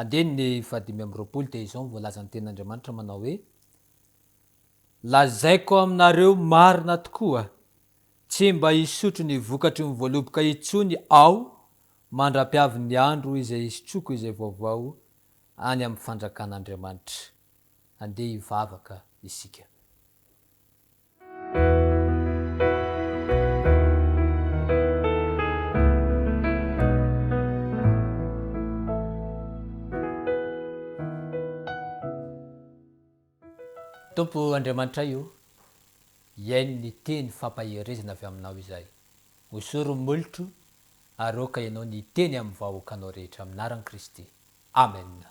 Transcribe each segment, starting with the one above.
Andininy fahadimy amby roapolo dia izao no voalazan'ny Tenin'Andriamanitra manao hoe, Lazaiko aminareo marina tokoa, tsy mba hisotro ny vokatry ny voaloboka intsony Aho mandra-piavin'ny andro izay hisotroako izay vaovao any amin'ny fanjakan'Andriamanitra. Andeha hivavaka isika. Tompo Andriamanitray o, hiaino ny teny fampaherezana avy aminao izay. Hosory ny molotro ary aoka ianao ny hiteny amin'ny vahoakanao rehetra, amin'ny anaran'i Kristy. Amena.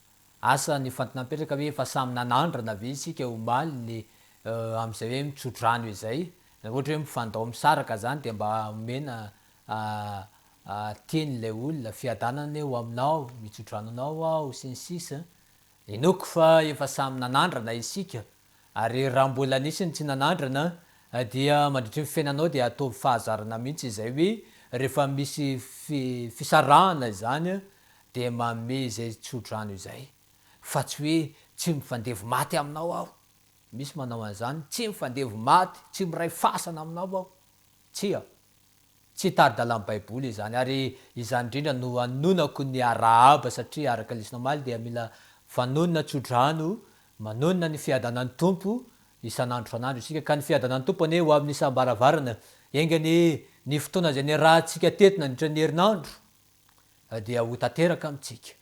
Asa ny fantin'apetraka ve efa samy nanandrana ve isika omaly le amzay hoe mitsodrano izay na ohatra hoe mifandao misaraka zany de mba omena teny ilay olona fiadanana anie ho aminao mitsodranonao aho sy ny sisa inoako fa efa samy nanandrana isika Ary raha mbola nisy ny tsy nanandrana dia mandritry ny fiainanao dia ataovy fahazarana mihitsy izay hoe rehefa misy fi fisarahana izany dia manome izay tsodrano izay fa tsy hoe tsy mifandevo maty aminao aho misy manao an'izany tsy mifandevo maty tsy miray fasana aminao aho tsia Tsy tari-dalan'ny Baiboly izany, ary izany indrindra no anononako ny arahaba, satria araka lesona omaly dia mila vanonona tso-drano manonona ny fiadanan'ny Tompo isan'andro isan'andro isika, ka ny fiadanan'ny Tompo anie ho amin'ny isam-baravarana, enga anie ny fotoana izay niarahantsika teto nandritra ny herinandro dia ho tanteraka amintsika.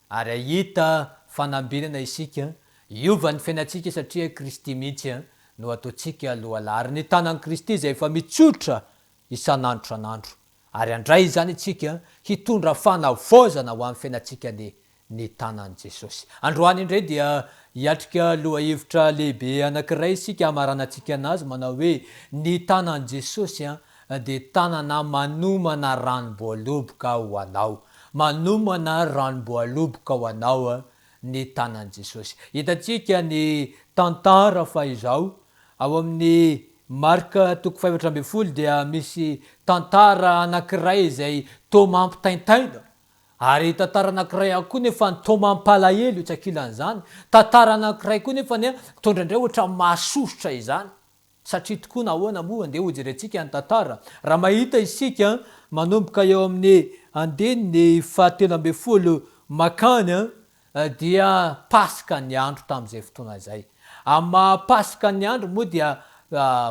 Ary ahita fanambinana isika hiova ny fiainantsika satria Kristy mihitsy no ataontsika lohalahy ary ny tanan'i Kristy izay efa mitsotra isan'andro isan'andro ary handray izany isika hitondra fanavaozana ho amin'ny fiainantsika ny ny tanan'i Jesosy. Androany indray dia hiatrika lohahevitra lehibe anankiray isika hamaranantsika anazy manao hoe ny tanan'i Jesosy dia tanana manomana ranom-boaloboka ho anao, manomana ranom-boaloboka ho anao ny tanan'i Jesosy. Hitantsika ny tantara fa izao, ao amin'ny Marka toko fahefatra ambin'ny folo dia misy tantara anankiray izay toa mampitaintaina, ary tantara anankiray ihany koa nefa toa mampalahelo etsy ankilan'izany, tantara anankiray koa nefa mitondra indray ohatran'ny mahasosotra izany. Satria tokoa nahoana moa andeha hojerentsika ny tantara raha mahita isika manomboka eo amin'ny andininy fahatelo ambin'ny folo makany dia paska ny andro tamin'izay fotoana izay. Amin'ny maha paska ny andro moa dia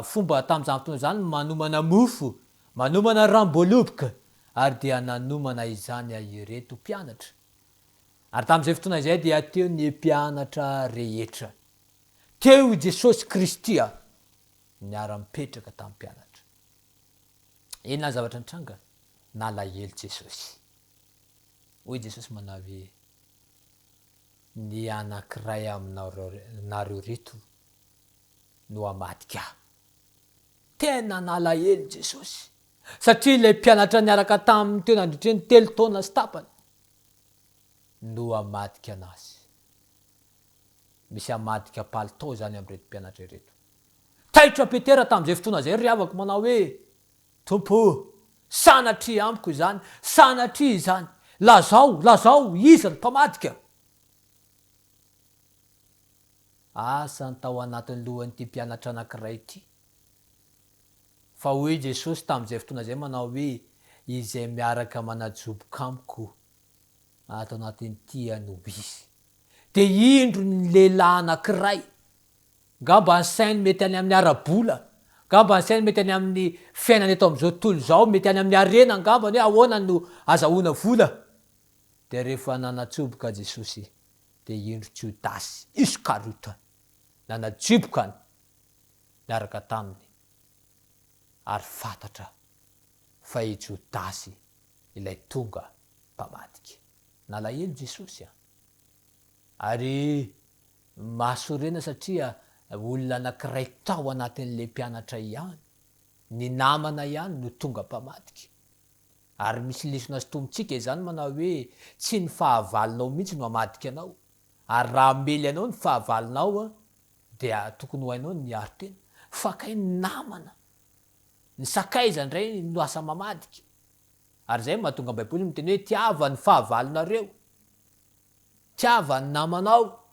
fomba tamin'izany fotoana izany ny manomana mofo, manomana ranom-boaloboka ary dia nanomana izany ireto mpianatra. Ary tamin'izay fotoana izay dia teo ny mpianatra rehetra. teo i Jesosy Kristy a! niara-mipetraka tamin'ny mpianatra. Inona ny zavatra nitranga? Nalahelo Jesosy. Hoy Jesosy manao hoe, Ny anankiray aminareo reto no hamadika ahy. Tena nalahelo Jesosy, satria ilay mpianatra niaraka taminy teo nandritry ny telo taona sy tapany no hamadika anazy. misy hamadika palitao izany amin'ireto mpianatra ireto. Taitra Petera tamin'izay fotoana izay ry havako manao hoe, Tompo o, sanatria amiko izany, sanatria izany. Lazao, lazao, iza no mpamadika? Asa ny tao anatin'ny lohan'ity mpianatra anankiray ity. Fa hoy Jesosy tamin'izay fotoana izay manao hoe, Izay miaraka manajoboka amiko ato anatin'ity anobisy dia indro ny lehilahy anankiray ngamba ny sainy mety any amin'ny ara-bola ngamba ny sainy mety any amin'ny fiainana eto amin'izao tontolo izao mety any amin'ny harena ngamba ny hoe ahoana no azahoana vola dia rehefa nanatsoboka Jesosy dia indro Jodasy Iskariota nanajiboka ny niaraka taminy ary fantatra fa i Jodasy ilay tonga mpamadika. Nalahelo Jesosy an! Ary mahasorena satria olona anankiray tao anatin'ilay mpianatra ihany, ny namana ihany no tonga mpamadika. Ary misy lesona sintomintsika izany manao hoe tsy ny fahavalonao mihitsy no hamadika anao. Ary raha hamely anao ny fahavalonao dia tokony ho hainao ny miaro tena. Fakay ny namana Ny sakaiza indray no asa mamadika. Ary izay no mahatonga ny Baiboly miteny hoe tiava ny fahavalonareo, tiava ny namanao,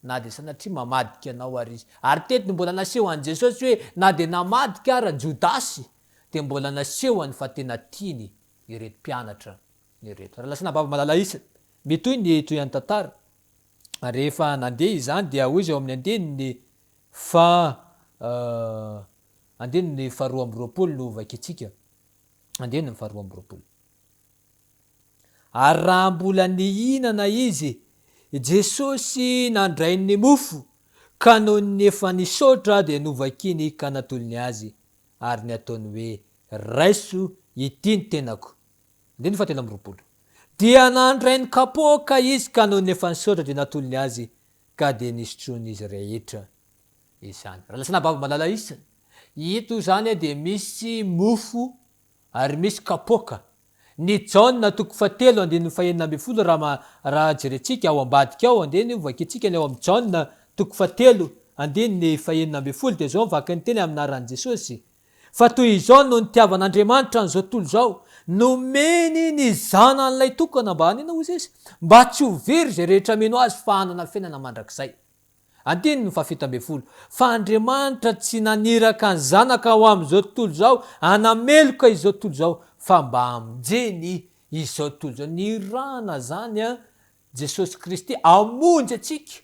na dia sanatria mamadika anao ary izy. Ary teto no mbola nasehon'i Jesosy hoe na dia namadika ara Jodasy dia mbola nasehony fa tena tiany ireto mpianatra ireto. Ary lasa nababo malala isa. Mitohy ny tohian'ny tantara. Ary rehefa nandeha izany dia hoy izy ao amin'ny andinin'ny Fa euh andininy ny faharoa amby roapolo no hovakiantsika, andininy ny faharoa amby roapolo. Ary raha mbola nihinana izy, Jesosy nandray ny mofo, ka nony ny efa nisaotra dia novakiany ka natolony azy, ary ny ataony hoe, Raiso, ity ny tenako. Andininy fahatelo amby roapolo. Dia nandray ny kapoaka izy ka nony efa nisaotra dia natolony azy, ka dia nisotroin'izy rehetra izany. Raha lasanà babo malala isa, ito izany dia misy mofo ary misy kapoaka. Ny Jaona toko fahatelo andininy fahenina ambin'ny folo raha raha jerentsika ao ambadika ao andiany io vakintsika ny ao amin'ny Jaona toko fahatelo andininy fahenina ambin'ny folo dia izao ny vakin'ny teny amin'ny anaran'i Jesosy, fa toy izao no nitiavan'Andriamanitra an'izao tontolo izao, nomeny ny Zanan'ilay tokana mba hanina hoy izy, mba tsy ho very izay rehetra mino azy fa hanana fiainana mandrakizay. Andininy fahafito ambin'ny folo, Fa Andriamanitra tsy naniraka ny Zanaka ho amin'izao tontolo izao hanameloka izao tontolo izao, fa mba hamonjeny izao tontolo izao. Nirahana izany Jesosy Kristy hamonjy antsika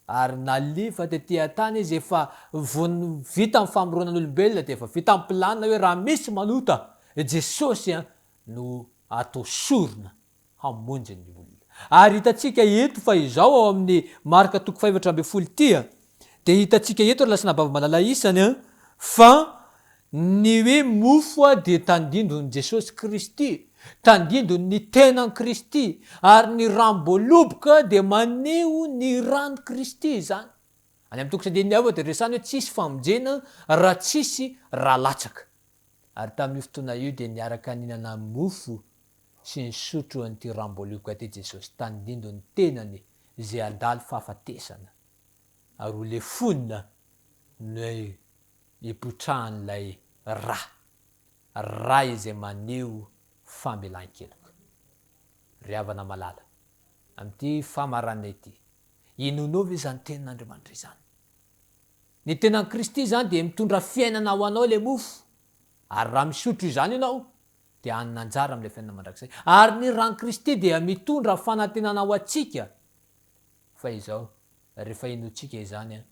Ary nalefa tety an-tany izy efa vao vita ny famoronan'olombelona dia efa vita ny planina hoe raha misy manota Jesosy an no atao sorona hamonjy ny olona. Ary hitantsika eto fa izao ao amin'ny Marka toko fahefatra ambin'ny folo ity an dia hitantsika eto ry lasinabavy malala isany an fa Ny hoe mofo dia tandindon' i Jesosy Kristy, tandindon' ny tenan' Kristy, ary ny ranom-boaloboka dia maneho ny ran' Kristy izany. Any amin' ny toko sendin' ny Ava dia resahina hoe tsy hisy famonjena raha tsy hisy ra latsaka. Ary tamin' io fotoana io dia niaraka nihinana mofo sy nisotro an' ity ranom-boaloboka ity Jesosy, tandindon' ny tenany izay handalo fahafatesana ary ho lefona ny ipotrahan'ilay ra, ra izay maneho famelan-keloka. Ry havana malala, amin'ity famaranana ity, inoanao ve izany tenin'Andriamanitra izany? Ny tenan'i Kristy izany dia mitondra fiainana ho anao ilay mofo, ary raha misotro izany ianao, dia hanana anjara amin'ilay fiainana mandrakizay. Ary ny ran'i Kristy dia mitondra fanantenana ho antsika. Fa izao, rehefa inoantsika izany,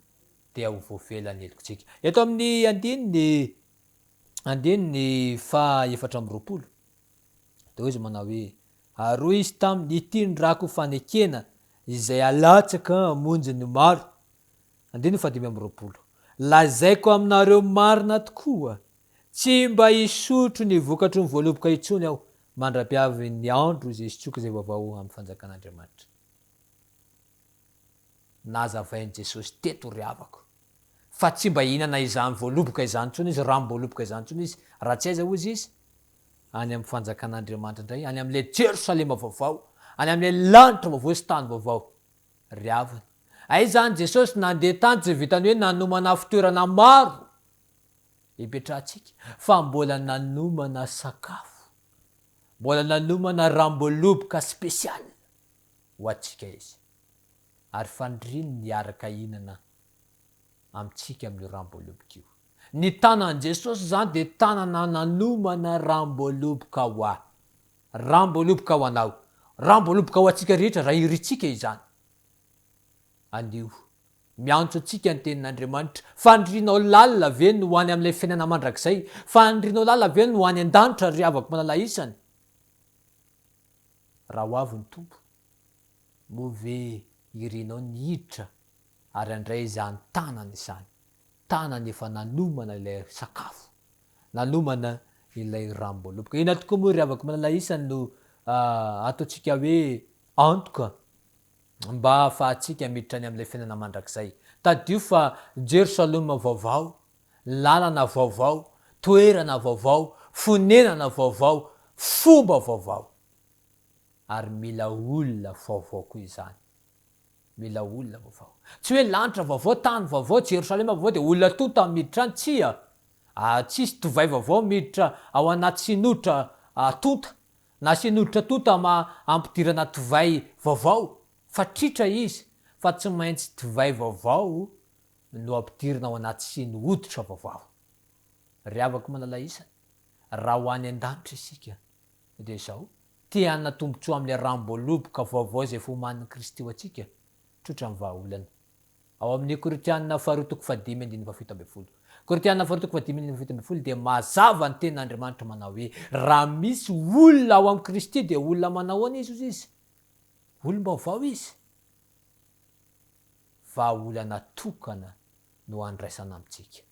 dia ho voafela ny helokintsika. Eto amin'ny andininy andininy fahaefatra amby roapolo, dia hoy izy manao hoe, Ary hoy izy taminy, Ity ny rako fanekena izay alatsaka hamonjy ny maro. Andininy fahadimy amby roapolo. Lazaiko aminareo marina tokoa, tsy mba hisotro ny vokatry ny voaloboka intsony aho, mandra-piavin'ny andro izay hisotroako izay vaovao amin'ny fanjakan'Andriamanitra. Nazavain'i Jesosy teto, ry havako, fa tsy mba hihinana izany voaloboka izany intsony izy, ranom-boaloboka izany intsony izy, raha tsy aiza, hozy izy, any amin'ny fanjakan'Andriamanitra indray, any amin'ilay Jerosalema vaovao, any amin'ilay lanitra vaovao sy tany vaovao. Ry havana, aiza any Jesosy nandeha tany tsy vitan'ny hoe nanomana fitoerana maro hipetrahantsika, fa mbola nanomana sakafo, mbola nanomana ranom-boaloboka spécial. ho antsika izy, ary faniriany ny hiaraka hihinana amintsika amin'io Ramboaloboka io. Ny tanan'i Jesosy izany dia tanana nanomana Ramboaloboka ho ahy, Ramboaloboka ho anao, Ramboaloboka ho antsika rehetra raha irintsika izany. Anio, miantso antsika ny Tenin'Andriamanitra, Fanirianao lalina ve ny ho any amin'ilay fiainana mandrakizay? Fanirianao lalina ve ny ho any an-danitra, ry havako malala isany? raha ho avy ny Tompo, moa ve irinao ny hiditra ary handray izany tanana izany, tanana efa nanomana ilay sakafo, nanomana ilay ranom-boaloboka. Inona tokoa moa ry havako malala isany no ataontsika hoe antoka mba hahafahantsika miditra any amin'ilay fiainana mandrakizay? Tadidio fa Jerosalema vaovao Lalana vaovao, toerana vaovao, fonenana vaovao, fomba vaovao. Ary mila olona vaovao koa izany. Mila olona vaovao. Tsy hoe lanitra vaovao, tany vaovao, Jerosalema vaovao dia olona tonta no miditra any, tsia. Ary tsy hisy divay vaovao miditra ao anaty sinotra tonta, na sinotra tonta ma ampidirana divay vaovao, fa tritra izy, fa tsy maintsy divay vaovao no ampidirina ao anaty siny hoditra vaovao. Ry havako manalaisany, raha ho any an-danitra isika, dia izao, te-hanana tombontsoa amin'ilay ranom-boaloboka vaovao izay efa omanin'i Kristy ho antsika, tsotra ny vahaolana. Ao amin'ny Korintiana faharoa toko fahadimy andininy fahafito ambin'ny folo. Korintiana faharoa toko fahadimy andininy fahafito ambin'ny folo dia mazava ny tena Andriamanitra manao hoe, raha misy olona ao amin'i Kristy dia olona manao ahoana izy hoy izy? Olom-baovao izy. vahaolana tokana no andraisana amintsika,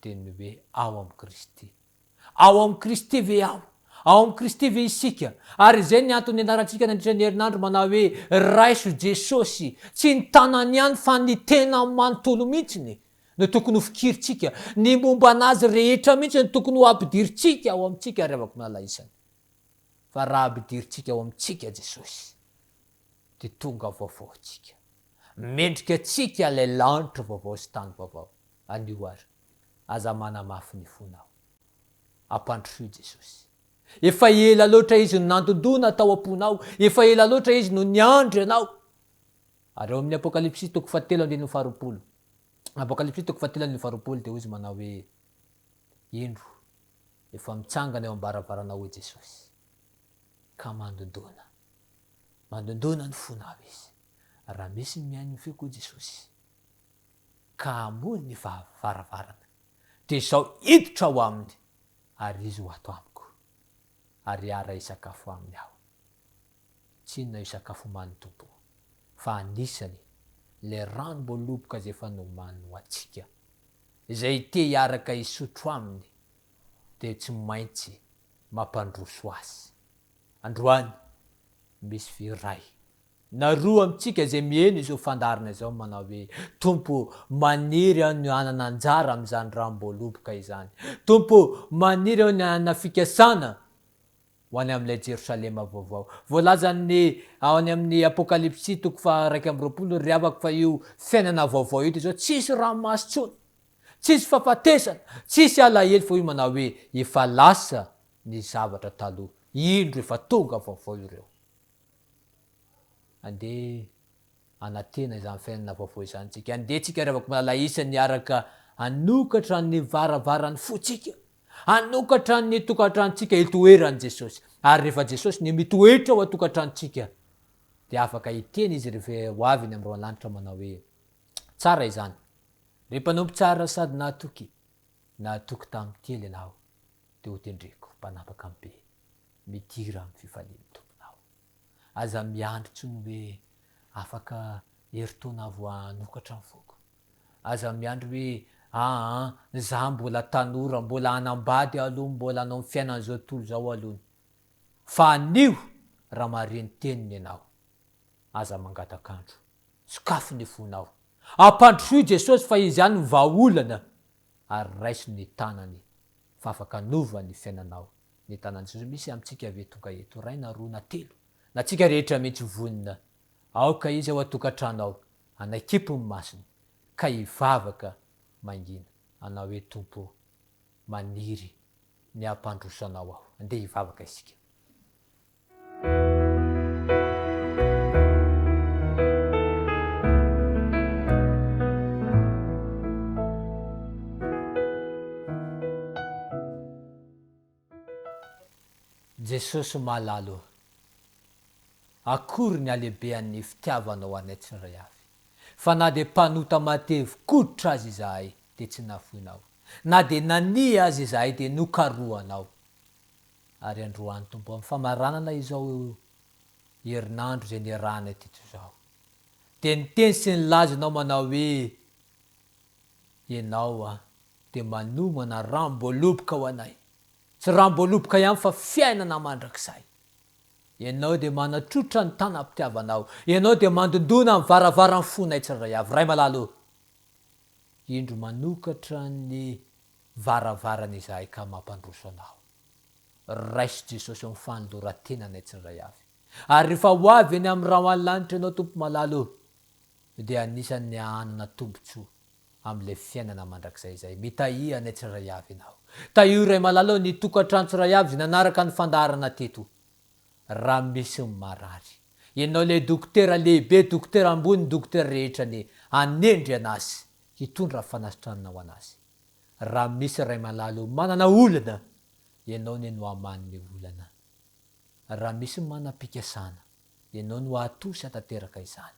dia ny hoe ao amin'i Kristy. Ao amin'i Kristy ve aho? Ao amin'i Kristy ve isika? Ary izay ny antony nianarantsika nandritra ny herinandro manao hoe, Raiso Jesosy. Tsy ny tanany ihany fa ny tenany manontolo mihitsy no tokony ho fikirintsika, ny momba an'Azy rehetra mihitsy no tokony ho ampidirintsika ao amintsika ary avak'nala isany. Fa raha ampidirintsika ao amintsika Jesosy, dia tonga vaovao antsika. Mendrika antsika ilay lanitra vaovao sy tany vaovao. Anio ary, aza manamafy ny fonao. Ampandrosoy Jesosy. Efa ela loatra Izy no nandondona tao am-ponao. Efa ela loatra Izy no niandry anao. Ary ao amin'ny Apokalypsy toko fahatelo andininy faharoapolo, Apokalypsy toko fahatelo andininy faharoapolo dia hoy izy manao hoe, Indro, efa mitsangana eo am-baravaranao hoy Jesosy. ka mandondona. Mandondona ny fonao izy raha misy ny mihaino ny feoko Jesosy ka hamoy ny varavarana dia izaho hiditra ao aminy ary izy ho ato amiko ary hiara hisakafo aminy aho. Tsy inona io sakafo omanin'ny Tompo fa anisany ilay ranom-boaloboka izay efa nomaniny ho antsika izay te hiaraka hisotro aminy dia tsy maintsy mampandroso azy. Androany, misy vy iray na roa amintsika izay miheno izao fandaharana izao manao hoe, Tompo, maniry aho ny hanana anjara amin'izany ranom-boaloboka izany. Tompo, maniry aho ny hanana fikasana ho any amin'ilay Jerosalema vaovao. Voalazan'ny ao any amin'ny Apokalypsy toko faha iraika amby roapolo ry havako fa io fiainana vaovao ito izao tsisy ranomaso intsony. Tsisy fafatesana, tsisy alahelo fa io manao hoe efa lasa ny zavatra taloha, indro efa tonga vaovao ireo. Andeha anatena izany fiainana vaovao izany tsika, andeha tsika ry havako malala isany hiaraka hanokatra ny varavarany fotsika, hanokatra ny tokantranontsika hitoeran'i Jesosy. Ary rehefa Jesosy no mitoetra ao an-tokantranontsika dia afaka hiteny Izy rehefa ho avy eny amin'ny roa lanitra manao hoe, Tsara izany, Ry mpanompo tsara sady nahatoky, nahatoky tamin'ny kely ianao, dia hotendreko mpanapaka be, midira amin'ny fifalian'ny tomponao. Aza miandry intsony hoe afaka herintaona vao hanokatra ny foko. Aza miandry hoe aa za mbola tanora, mbola hanambady aloha, mbola hanao ny fiainana izao tontolo izao aloha ny. Fa anio raha mahare ny teniny ianao, Aza mangataka andro. Sokafy ny fonao. Ampandrosoy Jesosy fa Izy ihany no vahaolana ary raiso ny tanany fa afaka hanova ny fiainanao. Ny tanan'i Jesosy misy amintsika ve tonga eto iray na roa na telo na antsika rehetra mihitsy vonona. Aoka Izy ao an-tokantrano ao hanaikipo ny masony ka hivavaka mangina. Anao hoe Tompo ô, maniry ny hampandroso anao aho. Andeha hivavaka isika. Jesosy malala ô! Akory ny halehibean'ny fitiavanao anay tsirairay avy, fa na dia mpanota matevy koditra aza izahay dia tsy nafoinao, na dia nania aza izahay dia nokarohanao. ary androany Tompo amin'ny famaranana izao herinandro izay niarahanay teto izao dia niteny sy nilaza ianao manao hoe ianao an dia manomana ramboaloboka ho anay tsy ramboaloboka ihany fa fiainana mandrakizay ianao dia manatrotra ny tanam-pitiavanao ianao dia mandondona ny varavaran'ny fonay tsirairay avy Ray malala o Indro manokatra ny varavarana izahay ka mampandroso anao. Raiso Jesosy ao amin'ny fanoloran-tenanay tsindray avy. Ary rehefa ho avy eny amin'ny rà ho any lanitra ianao Tompo malala o, dia anisan'ny hahanana tombotsoa amin'ilay fiainana mandrakizay izahay. Mitahia anay tsirairay avy ianao. Tahio Ray malala o ny tokantrano tsirairay avy izay nanaraka ny fandaharana teto. Raha misy ny marary. Ianao ilay dokotera lehibe, dokotera ambony ny dokotera rehetra anie hanendry an'azy hitondra ny fanasitranana ho an'azy. Raha misy ray malalo manana olana, ianao anie no hamanome olana. Raha misy manam-pikasana, ianao no hatoa sy hatateraka izany.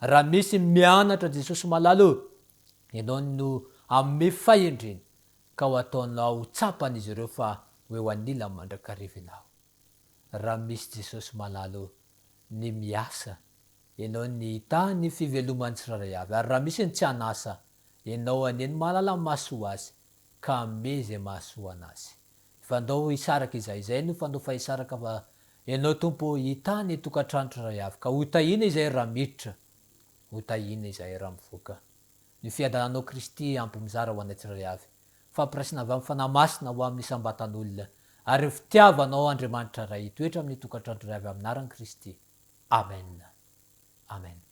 Raha misy mianatra Jesosy malalo, ianao no hanome fahendrena ka ho ataonao ho tsapan'izy ireo fa ho eo anilany mandrakariva ianao. raha misy Jesosy malalo ny miasa enao ny hita ny fiveloman'ny tsirairay avy ary raha misy ny tsy an'asa enao anie ny mahalala ny mahasoa azy ka ame izay mahasoa anazy fa ndao hisaraka izay izay no fandofa hisaraka fa enao Tompo hita ny tokantrano tsirairay avy ka ho tahiana izay raha miditra ho tahiana izay raha mivoaka ny fiadananao Kristy ampy mizara ho anay tsirairay avy fampiraisana avy amin'ny Fanahy Masina ho amin'ny isam-batan'olona, ary ny fitiavan' ao Andriamanitra Ray hitoetra amin'ny tokantrano iray avy amin'ny anaran'i Kristy. Amena. Amena.